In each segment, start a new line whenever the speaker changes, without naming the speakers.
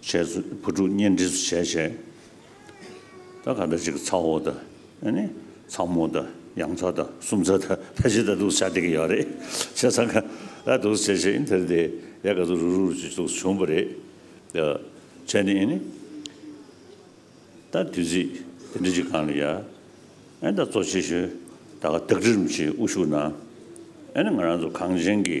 བྱས་སུ་བུ་ཕྲུག་གཉེན་སྒྲིག་སུ་བྱས་བྱས། ད་ག་ད་ཅིག་ཚ་བོ་ད་ནི་ཚ་མོ་ད་ཡང་ཚ་ད་སུམ་ཚ་ད་ད་ཅིག་ད་འདུག་བྱ་དེ་གི་ཡོག་རེད་བྱས་ས་ག་ད་འདུག་བྱས་བྱས་ཨིན་དེར་དེ་ཡ་ག་ཚུགས་རུག་རུག་ཅིག་ཚུགས་བྱུང་བ་རེད་ད་བྱས་ནི་ཨིན། ད་དུས་ཚིགས་དེ་འདྲི་ཅིག་གང་ལ་ཡ་ཨིན་ད་གཙོ་ཆེ་ཤོས་ད་ག་དག་གྲི་རིམ་གྱིས་དབུ་ཞུགས་ན་ཨིན་ང་རང་ཚོ་གངས་ཅན་གྱི།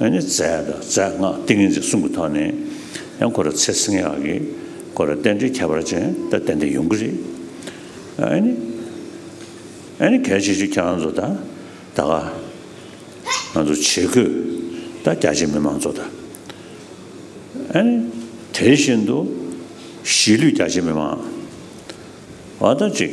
ཡང་ནི་རྫས་དང་རྫས་སྔགས་ཏིང་ངེ་འཛིན་གསུམ་གྱི་ཐོག་ནས་ཡང་ཁོ་ར་ཚེ་བསྲིང་ཡག་གི་ཁོ་ར་རྟེན་འབྲེལ་ཁྱད་པར་ཅན་ད་གཏན་ནས་ཡོང་གི་རེད། ཡང་ནི། ཡང་ནི་གལ་ཆེ་ཤོས་ཁྱེད་རང་ཚོ་ད་ད་ག་ང་ཚོ་ཆེ་བསྐོས་ད་རྒྱ་ཆེ་མི་མང་ཚོ་ད་ཡང་ནི་དེ་བཞིན་དུ་གཞིས་ལུས་རྒྱ་ཆེ་མི་མང་བ་ད་ཅིག་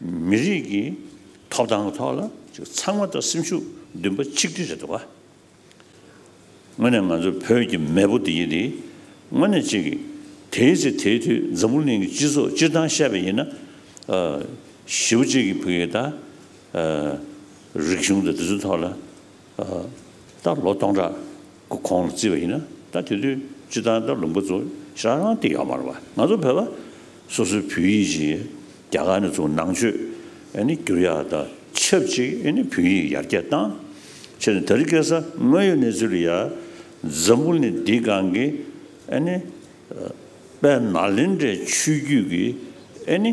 མི་རིགས་ཀྱི་ཐོབ་ཐང་ཐོག་ལ་ཚང་མ་དང་སེམས་ཤུགས་འདུན་པ་ཆིག་སྒྲིལ་རེད་འདུག་བ། དངོས་ནས་ང་ཚོ་བོད་ཀྱི་མེས་པོ་འདི་ཡིན་དེ་དངོས་ནས་ཅིག་གི་དེའི་ཚེ་དེའི་དུས་འཛམ་བུ་གླིང་གི་སྤྱི་ཚོགས་སྤྱིར་བཏང་བཤད་པ་ཡིན་ན། བཞི་བོ་གཅིག་གི་བུ་ཡིན་ད། རིག་གཞུང་དང་དེ་ཚོའི་ཐོག་ལ། ད་ལོ་སྟོང་ཕྲག། གི་ཁོང་ལ་བརྩིས་པ་ཡིན་ན་ད་དེ་དུས་སྤྱི་དང་ད་ལུང་པ་ཚོ་ཤ་རང་སྟེ་ཡོག་མར་བ་ང་ཚོ་བོད་པ་སོ་སོའི་བོད་ཡིག་ཅིག་རྒྱ་གར་ནས་བཙུགས་ནང་ཆོས་ཨེ་ནི་བསྒྱུར་ཡག་ད་ཆབས་ཅིག་ཨེ་ནི་བོད་ཡིག་ཡར་རྒྱས་བཏང་ཕྱིར་ནི་ད་རི་སྐད་ས་དངོས་ཡོད་གནས་ཚུལ་ཡར་འཛམ་བུ་ནི་འདི་གང་གི་ཨེ་ནི་དཔལ་ནཱ་ལེནྡྲའི་ཆོས་བརྒྱུད་ཀྱི་ཨེ་ནི་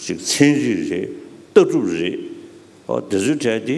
ཅིག་ཚན་རིག་རེད་ལྟ་གྲུབ་རེད་འོ་དེ་ཚོའི་གྲས་དེ།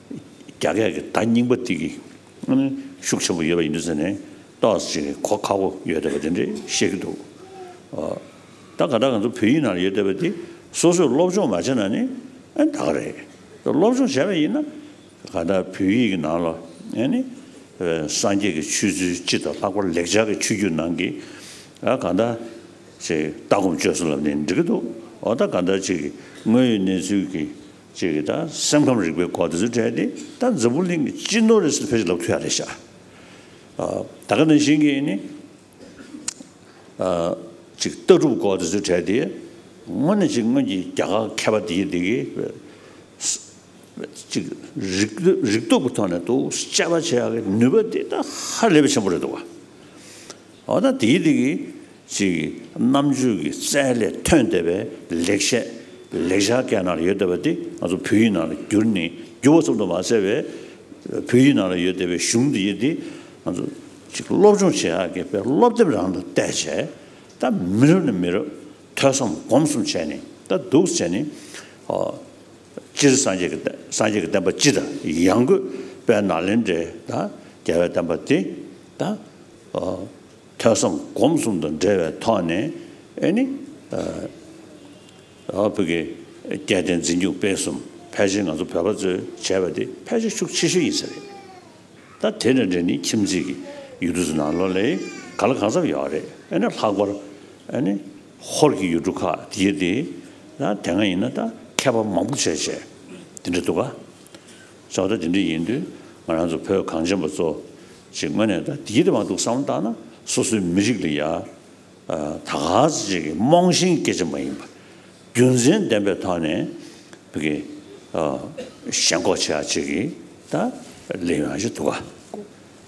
རྒྱ་སྐད་ཀྱི་ད་སྙིང་པོ་ཏི་གི་ཨ་ནི་ཤུགས་ཆེན་པོ་ཡོད་པ་ཡིན་དུས་ཟེར་ནས་ཏོག་ཅིག་གི་གོ་ཁ་བོ་ཡོད་བསྡད་པ་དེ་འདྲས་བཤད་ཀྱི་འདུག་ད་ག་ད་ག་ཚོ་བོད་ཡིག་ནང་ལ་ཡོད་བསྡད་པ་དེ་སོ་སོས་སློབ་སྦྱོང་མ་བྱས་ན་ནི་ད་ག་རེད། སློབ་སྦྱོང་བྱས་པ་ཡིན་ན་ག་ད་བོད་ཡིག་གི་ནང་ལ་ཨ་ནི་སངས་རྒྱས་ཀྱི་ཆོས་ཚུལ་སྤྱི་དང་ལྷག་པར་ལེགས་སྦྱར་གྱི་ཆོས་བརྒྱུད་ནང་གི་ཨ་ག་ད་ཅིག་ལྟ་སྒོམ་སྤྱོད་བསྲུང་ལབ་ནས་འབྲི་གི་འདུག་འོ་ད་ག་ད་ཅིག་དངོས་ཡོད་གནས་ཚུལ་གྱི་ཅེས་ཀྱི་དང་སེམས་ཁམས་རིག་པའི་སྐོར་དེ་ཚོ་བྲལ་ཏེ་ད་འཛམ་བུ་གླིང་གི་སྤྱི་ནོར་རེད་ཟེར་ཕེ་ཞིག་ལབ་ཁྱོད་ཡག་རེད་ཤག་ད་ག་ནང་བཞིན་གྱི་ནི་ཅིག་ལྟ་གྲུབ་སྐོར་དེ་ཚོ་བྲལ་ཏེ་དངོས་ནས་ཅིག་སྔོན་གྱི་རྒྱ་གར་མཁས་པ་དེ་གི་དེ་གི་ཅིག་རིག་རིག་སྟོབས་ཀྱི་ཐོག་ནས་དུ་དཔྱད་པ་བྱེད་ཡག་གི་ནུས་པ་དེ་ད་ཧ་ལས་པའི་ཆེན་པོ་རེད་འདུག་བ། འོ་ན་དེའི་སྟེང་གི་ཅིག་རྣམ་དཔྱོད་ཀྱི་རྩལ་ལས་ཐོན་བསྡད་པའི་ལེགས་བཤད་ལེགས་བྱ་སྐད་ནང་ལ་ཡོད་བསྡད་པ་དེ་ང་ཚོ་བོད་ཡིག་ནང་ལ་བསྒྱུར་ནས་བསྒྱུར་བ་ཙམ་དུ་མ་ཟད་པའི་བོད་ཡིག་ནང་ལ་ཡོད་བསྡད་པའི་གཞུང་འདི་དེ་ང་ཚོ་ཅིག་སློབ་སྦྱོང་བྱེད་ཡག་གི་དཔེར་སློབ་དེབ་རང་དུ་བལྟས་བྱས་ད་མི་རབས་ནས་མི་རབས་ཐོས་བསམ་སྒོམ་གསུམ་བྱས་ནས་ད་འདུག་བྱས་ནས་སྤྱིར་སངས་རྒྱས་ཀྱི་སངས་རྒྱས་ཀྱི་བསྟན་པ་སྤྱི་དང་ཡང་སྒོས་པའི་ནཱ་ལེནྡྲའི་རྒྱལ་བའི་བསྟན་པ་དེ་ད་ཐོས་བསམ་སྒོམ་གསུམ་དང་འབྲེལ་བའི་ཐོག་ནས་ནི། བོད་ཀྱི་སྐད་བསྟན་འཛིན་སྒྱུ་སྤེལ་གསུམ་ཕལ་ཆེར་ང་ཚོ་བོད་པ་ཚོས་བྱས་པ་དེ་ཕལ་ཆེར་ཤུགས་ཆེ་ཤོས་ཡིན་ས་རེད། ད་དེ་དང་འབྲེལ་ནི་ཁྱིམ་མཚེས་ཀྱི་ཡུལ་གྲུ་ཚོ་ནང་ལོགས་ལས་ག་ལ་གང་འཚམས་ཡོད་རེད་ཨེ་ན་ལྷག་པར་ནི་ཧོར་གྱི་ཡུལ་གྲུ་ཁག་དེ་དེ་སྔ་ཡིན་ན་ད་མཁས་པ་མང་པོ་བྱས་བྱས་དེ་འདྲ་འདུག་ག། ཚོགས་འདུ་འདི་འདྲ་ཡིན་དུས་ང་རང་ཚོ་བོད་གངས་ཅན་པ་ཚོ་ཞིག་དངོས་གནས་ད་འདི་ལྟ་བ་འདུག་བསམ་བློ་བཏང་ན་སོ་སོའི་མི་རིགས་ལ་ཡ་ད་ག་ཚོད་ཅིག་གིས་རྨོངས་ཤིང་སྐད་ཆ་མ་ཡིན་པ་རྒྱུ་མཚན་ལྡན་པའི་ཐོག་ནས་བོད་ཀྱི་ཞེན་ཁོག་ཆེ་བ་ཅིག་གིས་ད་ལས་ཡོང་ཞིག་འདུག་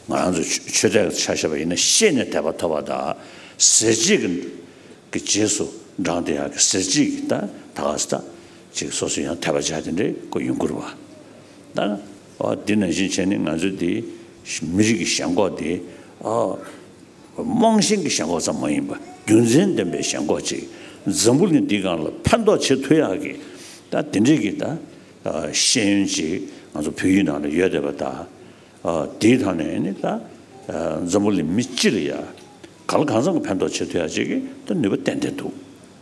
ང་རང་ཚོ་ཆོས་དད་ཆ་ཤས་པ་ཡིན་ན་ཤེས་ནས་དད་པ་ཐོབ་པ་ད་ཟེར་གཅིག་གི་རྗེས་སུ་འབྲངས་དེ་ཡག་གི་ཟེར་གཅིག་གིས་ད་ག་ཟེ་ད། ཅིག་སོ་སོ་ཡང་ཐལ་བ་བྱ་དེ་འདྲའི་སྐུ་ཡོན་བཀུར་བ། ད་འདི་ནང་བཞིན་བྱས་ནས་ང་ཚོ་འདི་མི་རིགས་ཀྱི་ཞེན་ཁོག་འདི་རྨོངས་ཞེན་གྱི་ཞེན་ཁོག་ཙམ་མ་ཡིན་པ་རྒྱུ་མཚན་ལྡན་པའི་ཞེན་ཁོག་ཅིག་འཛམ་བུ་གླིང་འདི་གང་ལ་ཕན་ཐོག་བྱེད་ཐུབ་ཡག་གི་ད་དེ་འདྲའི་གི་ད་ཤེས་ཡོན་ཅིག་ང་ཚོ་བོད་ཡིག་ནང་ལ་ཡོད་བསྡད་པ་ད་འདིའི་ཐང་ནས་ནི་ད་འཛམ་བུ་གླིང་མི་སྤྱི་ལ་ཡག་ག་ལ་གང་ཙམ་གྱི་ཕན་ཐོག་བྱེད་ཐུབ་ཡག་ཅིག་གི་ད་ནུས་པ་ཏན་ཏན་འདུག།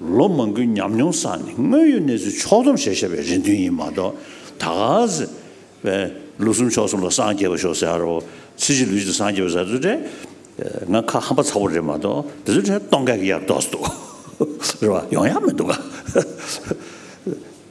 ལོ་མང་གི་ཉམས་མྱོང་བསགས་ནས་དངོས་ཡོད་གནས་ཚུལ་ཕྱོགས་སྡོམ་བྱེད་ཤེས་པའི་རེ་འདུན་ཡིན་མ་གཏོགས་ད་གཟི་བས་ལོ་གསུམ་ཕྱོགས་གསུམ་ལ་སངས་རྒྱས་པ་ཤོག་ཟེར་ཡ་ཚེ་བཞི་ལུས་བརྗེ་སངས་རྒྱས་པ་ཟེར་ཚུལ་དྲན་ང་ཁ་ཧམ་པ་ཚ་བོ་རེད་མ་གཏོགས་དེ་ཚོའི་གྲས་སྟོང་སྐད་ཀྱི་ཡར་ལྡོག་སྡོག་རེད་བ་ཡོང་ཡག་མི་འདུག་ག།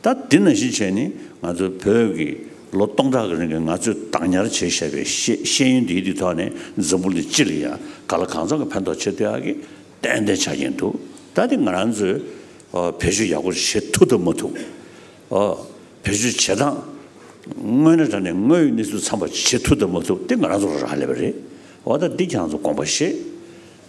ད་འདི་ན་གཞི་བྱས་ནས་ང་ཚོའི་བོད་ཀྱི་ལོ་སྟོང་ཕྲག་གི་རིང་གི་ང་ཚོས་བདག་ཉར་བྱས་བཞག་པའི་ཤེས་ཡོན་འདིའི་དུས་ཐོག་ནས་འཛམ་བུ་འདི་སྤྱི་ལ་ཡང་ག་ལ་གང་འཚམ་གྱི་ཕན་ཐོག་ཆེ་བསྟོད་ཀྱི་ཏན་ཏན་ཆགས་ཀྱིན་འདུག་ད་དེ་ང་རང་ཚོས་བེད་སྤྱོད་ཡག་པོ་བྱེད་ཐུབ་ཐུབ་མ་ཐུབ། བེད་སྤྱོད་བྱེད་སྟངས་དངོས་གནས་དྲ་ནས་དངོས་ཡོད་གནས་ཚུལ་འཚམ་པ་བྱེད་ཐུབ་ཐུབ་མ་ཐུབ་དེ་ང་རང་ཚོར་རག་ལས་པ་རེད། འོ་ད་འདི་གྱང་ཚོ་དགོངས་པ་བཞེས།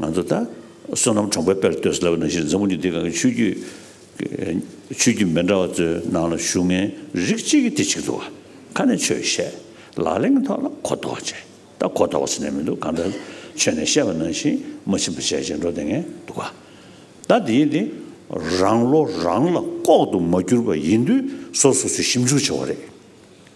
ང་ཚོ་ད་བསོད་ནམས་གྲོང་པའི་དཔེར་ལྟོས་སུ་ལབ་པ་ནང་བཞིན་འཛམ་བུ་གཉིས་དེ་ག་གི་ཆོས་རྒྱུད་ཆོས་རྒྱུད་མི་འདྲ་བ་ཚོའི་ནང་ལ་བཞུགས་ངའི་རིགས་གཅིག་གི་དེ་གཅིག་འདུག་ག་ཁ་ནས་ཆོས་བཤད་ལག་ལེན་གྱི་ཐོག་ལ་གོ་ལྡོག་བྱེད་ད་གོ་ལྡོག་བྱེད་ནས་མི་འདུག་གང་ལྟར་ཆོས་ནས་བཤད་པ་ནང་བཞིན་མ་ཕྱིན་པ་བྱས་བྱས་འགྲོ་དེ་ངས་འདུག་ག་ད་དེའི་དེ་རང་བློ་རང་ལ་ལྐོག་ཏུ་མ་གྱུར་པ་ཡིན་དུས་སོ་སོ་ཚོས་ཞིབ་འཇུག་བྱེད་བ་རེད།